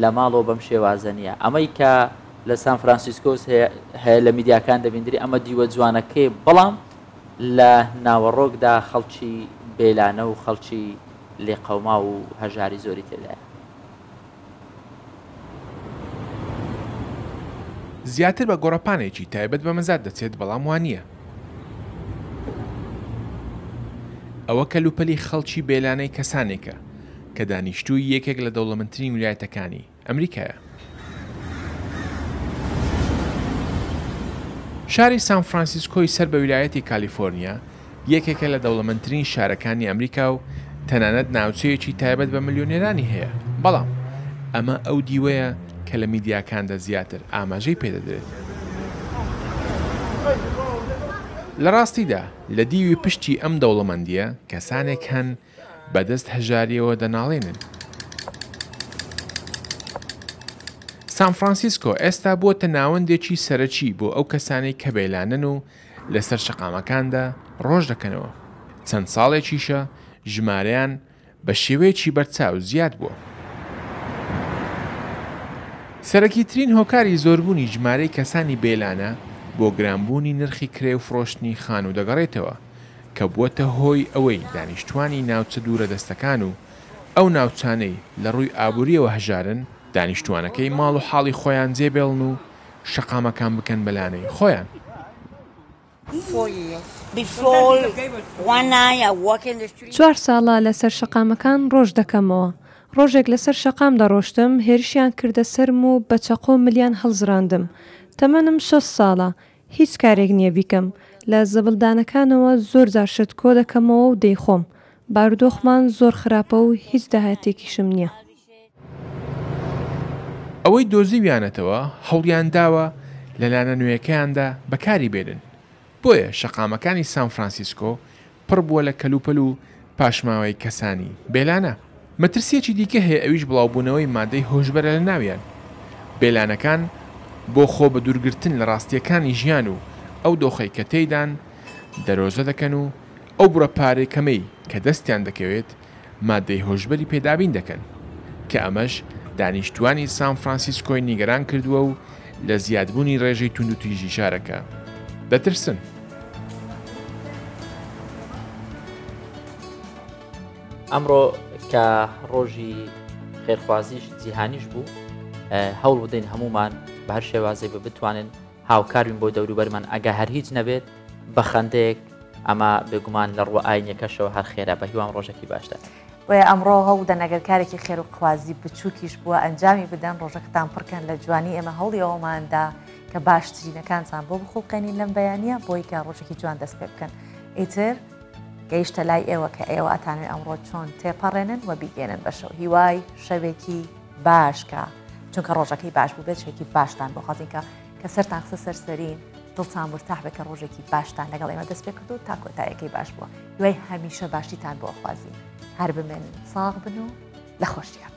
لە ماڵەوە بەم شێوازە نییە ئەمەی کە لە سان فرانسیسکۆس هەیە لە میدیاکان دەبیندری ئەمە دیوە جوانەکەی بەڵام لە ناوەڕۆکدا خەڵکی بێلانە و خەڵکی لێقەوما و هەژاری زۆری تێدایە زیاتر بە گۆڕەپانێکی تایبەت بە مەزاد دەچێت بەڵام وانە ئەوە کەلوپەلی خەڵکی بێلانەی کەسانێکە کە دانیشتووی یەکێک لە دەوڵەمەندترین ویلایەتەکانی ئەمریکایە. شاری سان فرانسیسکۆی سەر بە ویلایەتی کالیفۆرنیا یەکێکە لە دەوڵەمەندترین شارەکانی ئەمریکا و تەنانەت ناوچەیەکی تایبەت بە ملیۆنێرانی هەیە، بەڵام ئەمە ئەو دیوەیە کە لە میدیاکاندا زیاتر ئاماژەی پێ دەدرێت. لە ڕاستیدا لە دیوی پشتی ئەم دەوڵەمەندییە کەسانێک هەن بە دەست هەژارییەوە دەناڵێنن. سان فرانسیسکۆ ئێستا بووەتە ناوەندێکی سەرەکی بۆ ئەو کەسانەی کە بێلانەن و لەسەر شەقامەکاندا ڕۆژ دەکەنەوە، چەند ساڵێکیشە ژمارەیان بە شێوەیەکی بەرچاو زیاد بووە. سەرەکیترین هۆکاری زۆربوونی ژمارەی کەسانی بێلانە بۆ گرانبوونی نرخی کرێ و فرۆشتنی خانوو دەگەڕێتەوە، کە بووەتە هۆی ئەوەی دانیشتووانی ناوچە دوورەدەستەکان و ئەو ناوچانەی لە ڕووی ئابوورییەوە هەژارن، دانیشتووانەکەی ماڵ و حاڵی خۆیان جێ بێڵن و شەقامەکان بکەن بە لانەی خۆیان. چوار ساڵە لەسەر شەقامەکان ڕۆژ دەکەمەوە. ڕۆژێک لەسەر شەقام دەڕۆشتم، هێرشیان کردە سەرم و بە چەقۆ ملیان هەڵزڕاندم. تەمەنم شەست ساڵە، هیچ کارێک نییە بیکەم، لە زەبڵدانەکانەوە زۆر جار شت کۆ دەکەمەوە و دەیخۆم. بارودۆخمان زۆر خراپە و هیچ داهاتێکیشم نییە. ئەوەی دۆزیویانەتەوە هەوڵیان داوە لە لانە نوێیەکەیاندا بەکاری بێنن، بۆیە شەقامەکانی سان فرانسیسکۆ پڕ بووە لە کەلوپەل و پاشماوەی کەسانی بێلانە. مەترسییەکی دیکە هەیە ئەویش بڵاوبوونەوەی مادەی هۆشبەرە لە ناویان. بێلانەکان بۆ خۆ بە دوورگرتن لە ڕاستییەکانی ژیان و ئەو دۆخەی کە تێیدان دەرۆزە دەکەن و ئەو بڕە پارەی کەمەی کە دەستیان دەکەوێت ماددەی هۆشبەری پێ دابین دەکەن، کە ئەمەش دانیشتووانی سان فرانسیسکۆی نیگەران کردووە و لە زیادبوونی ڕێژەی توندوتیژی شارەکە دەترسن. ئەمڕۆ کە ڕۆژی خێرخوازیش جیهانیش بوو هەوڵ بدەین هەمومان بە هەر شێوازێک بە بتوانن هاوکار بین بۆ دەوروبەرمان ئەگە هەر هیچ نەبێت بە خەندەیەک ئەمە بێگومان لە ڕووە ئاینیەکەشەوە هەر خێرا بە هیوام ڕۆژەکی باشتر. بۆیە ئەمڕۆ هەوڵدەن ئەگەر کارێکی خێروخوازی بچووکیش بووە ئەنجامی بدەن ڕۆژەکەتان پڕکەن لە جوانی ئێمە هەوڵی ئەوەماندا کە باشترینەکانتان بۆ بخوڵقێنین لەم بەیانە بۆی کە ڕۆژێکی جوان دەست پێ بکەن ئیتر گەیشتە لای ئێوە کە ئێوە ئەتانوێ ئەمڕۆ چۆن تێپەڕێنن و بیگەێنن بەشەو هیوای شەوێکی باش کە چونکە ڕۆژەکەی باش بوو بێت شێکی باشتان بۆ خەزین کە کە سەرتان قسە سەرسەرین دڵتان مرتاح بە کە ڕۆژێکی باشتان لەگەڵ ئێمە دەست پێ کرد و تا کۆتایەکەی باش بووە دوای هەمیشە باشیتان بۆ خوازی هەر بمێن ساغ بن و لە خۆشیان